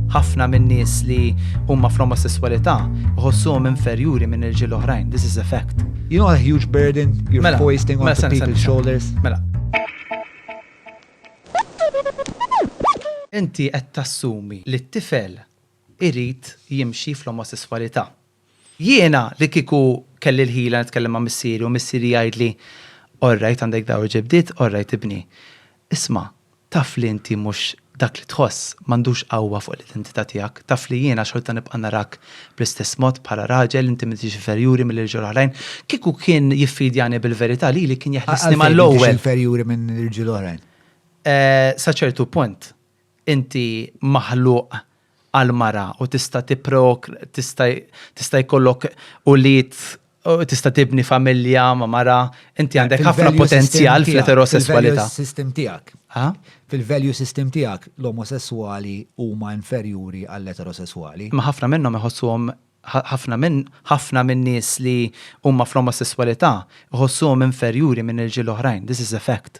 Ħafna min-nies li huma fl-omosesswalità iħossuhom inferjuri minn irġiel oħrajn. This is a fact. You know a huge burden you're mela, hoisting mela, on people's shoulders. Mela. Inti qed tassumi li t-tifel irid jimxi fl-omosesswalità. Jiena li kieku kelli l-ħila nitkellem ma' missieri u missieri jgħidli, Orrajt għandek dar u ġebdiet, orrajt ibni. Isma', taf li inti mhux dak li tħoss m'għandux qawwa fuq l-identità tiegħek, taf li jiena xorta nibqa' narak bl-istess mod bħala raġel, inti m'intix inferjuri mill-irġiel oħrajn. Kieku kien jiffidjani bil-verità lili kien jeħlisni mal-ewwel. Għalfejn m'intix inferjuri minn irġiel oħrajn? Sa ċertu punt. Inti maħluq għall-mara u tista' tipprok tista' tista' jkollok ulied u tista' tibni familja ma' mara, inti għandek ħafna Fil-value system potenzjal tiegħek, fl-eterosesswalità. Fil-value system tiegħek. Ha? Fil-value system tiegħek l-omosesswali huma inferjuri għall-eterosesswali. Imma ħafna minnhom iħossuhom Ħafna minn ħafna min-nies li huma fl-omosesswalità iħossuhom inferjuri minn irġiel oħrajn. This is a fact.